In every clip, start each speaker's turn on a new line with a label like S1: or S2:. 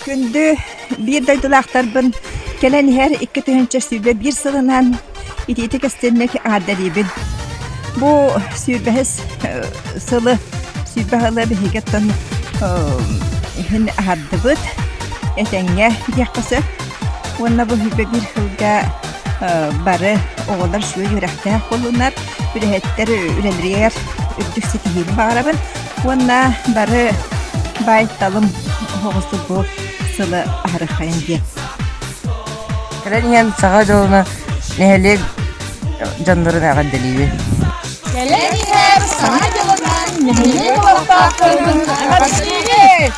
S1: Күндү биир дойдулаахтарбын кэлэн иһэр икки тыһыынча сүүрбэ биир сылынан итиити кэстэнник аардарыыбын. Бу сүүрбэһис сылы сүүрбэ сылы биһиги оттон иһин аһардыбыт этэҥҥэ диэххэ сөп. Уонна бу сүүрбэ биир сылга бары оҕолор сүөй үөрэхтээх буолунар, үлэһиттэр үлэлэриэр үрдүк ситиһиим баарабын уонна бары байталым оҕосу бу сылы аһарыхайын диэн. Кэлэн иһэн саха дьолуна нэһилиэк дьоннорун эҕэрдэлиибин. Кэлэн иһэн саха дьолунан нэһилиэк олохтоохторун эҕэрдэлиибин.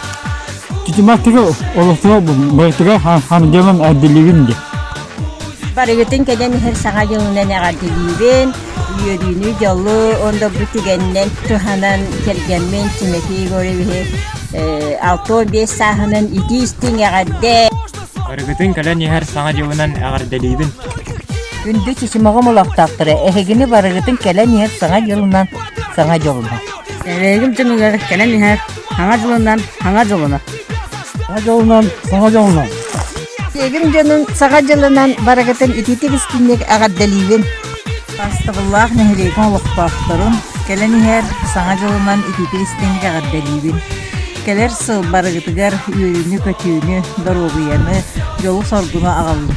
S1: Итиматыга олохтоох байтыга хамдьылын эҕэрдэлиибин диэн. Барыгытын кэлэн иһэр Саҥа дьылынан эҕэрдэлиибин, үөрүүнү, дьолу ондорбут тигэннэн туһанан кэргэммин Тимофей Егоровиһы э, алто биэс сааһынан итии-истиҥ эҕэрдэ. Барыгытын кэлэн иһэр Саҥа дьылынан эҕэрдэлиибин. Күндү Чичимоҕум олохтоохторо, эһигини барыгытын кэлэн иһэр Саҥа дьылынан Саҥа дьылынан. Эһигим дьонугар кэлэн иһэр Саҥа дьылынан Саҥа дьылынан. Саҥа дьылынан Саҥа дьылынан. Сиэгим дьонун саха дьылынан барыгытын итиитик истинник эҕэрдэлиибин! Бастабыллаах нэһилиэгин олохтоохторун, кэлэн иһэр Саҥа дьылынан итиитик истинник эҕэрдэлиибин! Кэлэр сыл барыгытыгар үөрүүнү-көтүүнү, доруобуйаны, дьолу-соргуну аҕаллын!